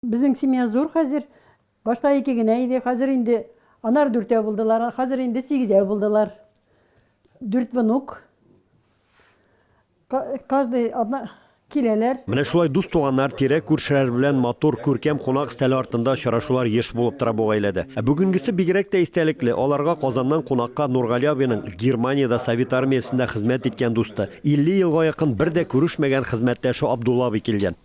Безнең семья зур хәзер. Башта ике генә иде, хәзер инде анар дүртәү булдылар, а хәзер инде сигезәү булдылар. Дүрт внук. Каждый одна киләләр. Менә шулай дус-туганнар, тирә-күршеләр белән матур, күркәм кунак өстәле артында очрашулар еш булып тора бу гаиләдә. Ә бүгенгесе бигрәк тә истәлекле, аларга Казаннан кунакка Нургали абыйның Германиядә Совет армиясендә хезмәт иткән дусты, 50 елга якын бер дә күрешмәгән хезмәттәше Абдулла абый килгән.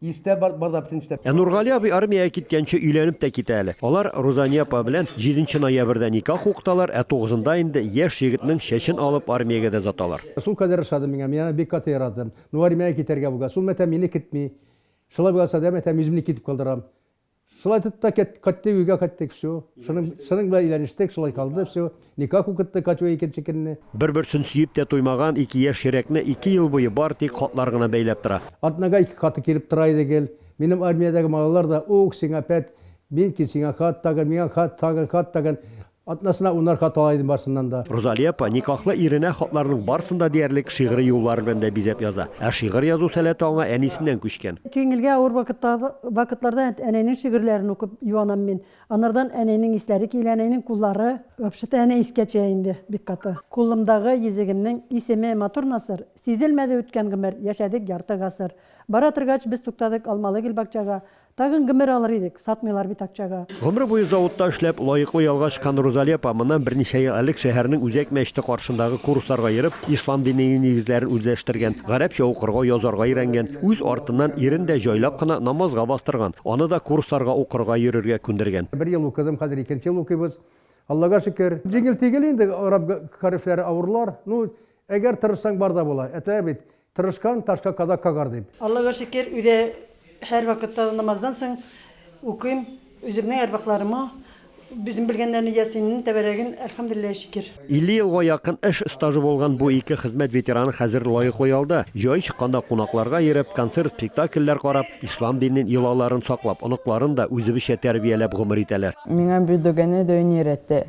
Истә бар, бар да бетсен эштә. Ә Нургали абый армиягә киткәнче өйләнеп тә китә әле. Алар Рузания апа белән җиденче ноябрьдә никах укыталар, ә тугызында инде яшь егетнең чәчен алып армиягә дә озаталар. Сул кадәр ошады миңа, мин аны бик каты яратам. Ну армиягә китәргә буга. Сул мәтәм мине кетми. Шулай булган сәдә мәтәм үземне китеп калдырам. Шулай итеп тә кет, кеттек, өйгә кеттек, всё. Шуның, шуның белән өйләнештек, шулай калды, всё. Никах укытты Катюга икенче көнне. Бер-берсен сөеп тә туймаган ике яшь йөрәкне ике ел буе бары тик хатлар гына бәйләп тора. Атнага ике хаты килеп тора иде гел. Минем армиядәге малайлар да, ух, сиңа пәт, мин ки сиңа хат тагын, миңа хат тагын, хат тагын. Атнасына ун арка тала идем барсыннан да. Розалия апа никахлы иренә хатларының барысын да диярлек шигъри юллар белән дә бизәп яза. Ә шигырь язу сәләте аңа әнисеннән күчкән. Күңелгә авыр вакытларда әнәйнең шигырьләрен укып юанам мин. Анардан әнәйнең исләре килә, әнәйнең куллары. Вообще-то әнә искә төя инде бик каты. Кулымдагы йөзегемнең исеме матур насыр, Сизелмәде үткән гомер, яшәдек ярты гасыр. Бара торгач без туктадык Алмалы гел бакчага, Тагын гомер алыр идек, сатмыйлар бит акчага. Гомере буе заводта эшләп, лаеклы ялга чыккан Рузали апа моннан берничә ел элек шәһәрнең Үзәк мәчете каршындагы курсларга йөреп, ислам динене нигезләрен үзләштергән, гарәпчә укырга, язарга өйрәнгән, үз артыннан ирен дә җайлап кына намазга бастырган, аны да курсларга укырга йөрергә күндергән. Бер ел укыдым, хәзер икенче ел укыйбыз, Аллага шөкер. Җиңел-тигел инде, гарәп хәрефләре авырлар. Ну, әгәр тырышсаң, бар да була. Ә тә бит, Тырышкан ташка казак кагар дип. Аллага шөкер, өйдә һәрвакытта да намаздан соң укыйм. Үземнең әрвахларыма үзем белгәннәрне Ясиннең тәбәрәген, әлхәмдүлилләһи шөкер. 50 елга якын эш стажы булган бу ике хезмәт ветераны хәзер лаеклы ялда. Җай чыкканда кунакларга йөреп, концерт, спектакльләр карап, ислам динен, йолаларын саклап, оныкларын да үзебезчә тәрбияләп гомер итәләр. Миңа бу доганы даими рәттә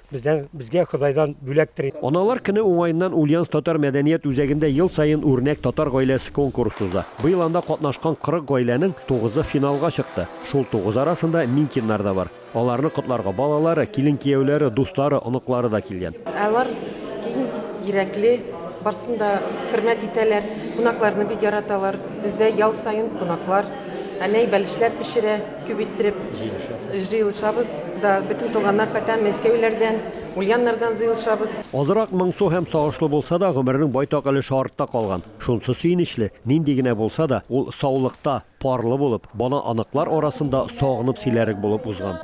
Бездән, безгә Ходайдан бүләктер. Аналар көне уңаеннан Ульяновск татар мәдәният үзәгендә ел саен Үрнәк татар гаиләсе конкурсы уза. Быел анда катнашкан 40 гаиләнең тугызы финалга чыкты. Шул тугыз арасында Минкиннар да бар. Аларны котларга балалары, килен-кияүләре, дуслары, оныклары да килгән. Алар киң йөрәкле, барсын да хөрмәт итәләр, кунакларны бик яраталар. Бездә ял саен кунаклар әнәй бәлешләр пешерә. Күп иттереп җыелышабыз да, бөтен туганнар, хәтта Мәскәүләрдән, Ульяннардан зыелышабыз. Азрак моңсу һәм сагышлы булса да, гомернең байтак өлеше артта калган. Шунсы сөенечле, нинди генә булса да, ул саулыкта, парлы булып, бала оныклар арасында сагынып сөйләрлек булып узган.